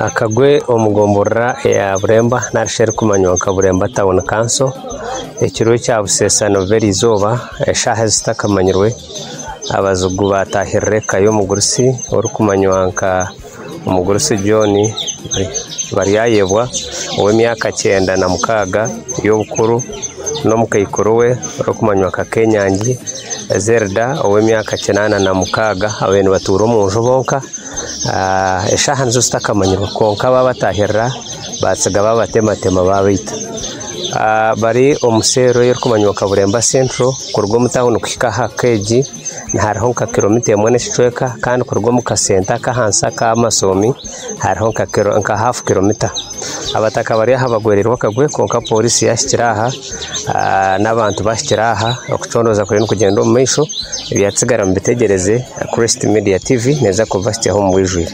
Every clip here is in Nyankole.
akagwe omu gomborora eya Buremba narishi erikumanywa nka Buremba Town Council ekiro ekya buseesa nibiba erizooba eshaaha ezitakanyirwe abazigu batahirira eka y'omugurusi orikumanywa nka Omugurusi John Baryayebwa ow'emyaka kyenda na mukaaga y'obukuru n'omukaikuru we orikumanywa nka Kenyangi Zerda ow'emyaka kinaana na mukaaga abariyo nibatuura omu nju bonka. Eshaaha nizo zitakamanyirwe kwonka baabatahirira baatsiga baabatematema baabaita. Bari omu seero erikumanywa nka Bureemba Central kuruga omu tauni kuhika aha keegi. hariho nka kiromita emwe n'ekicweka kandi kuruga omu kasenta aka ahansi aka Amasomi hariho nka kiro nka hafu kiromita. Abataka bari aha bagwereirwe akagwe kwonka porisi yahikire aha ah n'abantu bahikire aha okucondooza kuriyo nikugyenda omu maisho ebyatsigara mubitegyereze Kurist Media TV neeza kubibahikyaho omu bwijwire.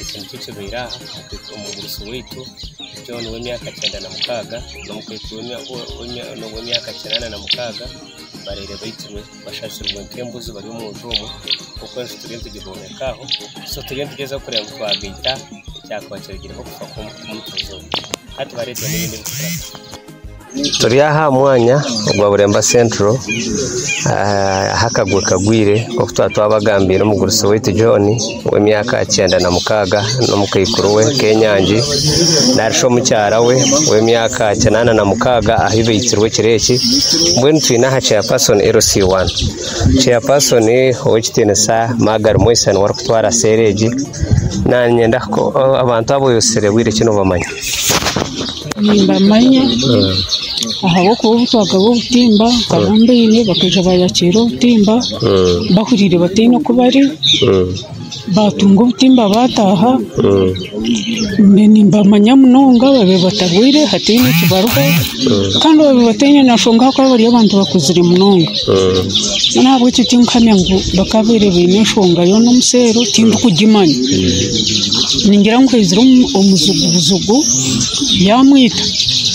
Ekintu ekibaire aha omugurusi waitu John w'emyaka kyenda na mukaaga n'omukazi w'emyaka kinaana na mukaaga babaire baitirwe bashazirwe nk'embuzi bari omu nju omwe kwonka enju turiyo nitugibombeka aho so turiyo nitugyeza kureba ngu twagaita ekyakuba kirugireho kufa kw'omukazi ogwo hati bareetwa n'ebindi ebikurato. Turi aha mwanya ogwa Buremba Central ahu akagwe kagwire nk'oku twaba twabagambiire omugurusi waitu John w'emyaka kyenda na mukaaga n'omukaikuru we Kenyangi nari shi omukyara we w'emyaka kinaana na mukaaga ahu baitsirwe ekiro eki. Mbwenu twine aha chairperson LC1. Chairperson Ow'ekitiinisa Margary Mweisa niwe arikutwara seera egi. Naanye abantu aba oyetsire bwire ki noobamanya? Nimbamanya ahabw'okuba obu twagaba obutimba nkaba mbaine bakaija baayakiira obutimba bahuriire bataine oku bari baatunga obutimba baataaha mbwenu nimbamanya munonga babire batarwaire hataine ekibariho kandi babire bataine na nshonga ahabw'okuba bari abantu bakuzire munonga mbwenu ahabw'ekyo tinkuhamya ngu bakabaire baine enshonga yoona omu sha ero tindikugimanya ningira ngu haizire omu omuzigu buzigu yaamwita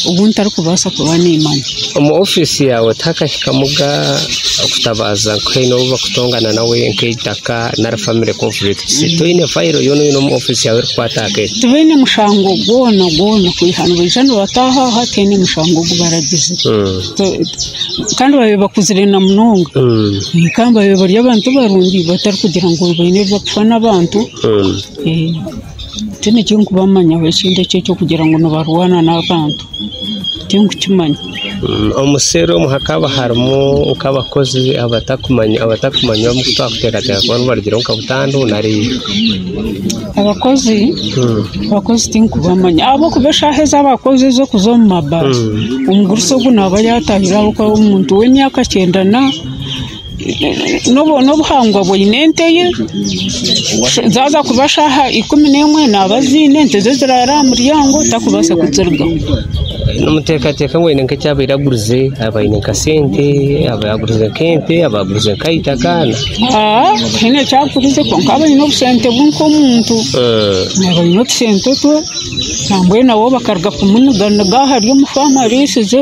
obu ntarikubaasa kuba niimanya. Omu ofiisi yaawe tihakahikamu ga okutabaaza ngu haine ou barikutongana nawe nk'eitaka nari famire konfurikitisi? Toine fayiro yoona yoona omu ofiisi yaawe erikukwata aha keesi? Tibaine mushango gwona gwona kwiha nibaija nibataaha aha tihaine mushango ogu baragize. Kandi babaire bakuzire na munonga. Kandi babaire bari abantu barungi batarikugira ngu baine ebi barikufa n'abantu. Tihaine eki ndikubamanyaho ekindi ekyo eky'okugira ngu nibarwana n'abantu, tinkukimanya. Omu seeri omu hakaba harimu nk'abakozi abatakumanya abatakumanywa abu twakuteekateeka kuba nibarugiraho nka butandu nari? Abakozi abakozi tinkubamanya ahabw'okuba eshaaha ezi abakozi ez'okuza omu mabaare, omugurusi ogwo naaba yaatahire ahabw'okuba omuntu w'emyaka kyenda na N'obuhangwa bwine ente ye, zaaza kuba shaaha ikumi n'emwe naaba aziine, ente ze ziraara aha muryango takubaasa kuzirugaho. Nimuteekateeka ngu aine nk'eki abaire agurize? Abaire aine nka sente, abaire agurize nk'ente, abaire agurize nka eitaka? Haa tihaine eki agurize kwonka aba aine obusente bwe nk'omuntu. Aba aine otusente twe nambwenu nabo bakaruga kumuniga niga ahari omu faamu ariisize.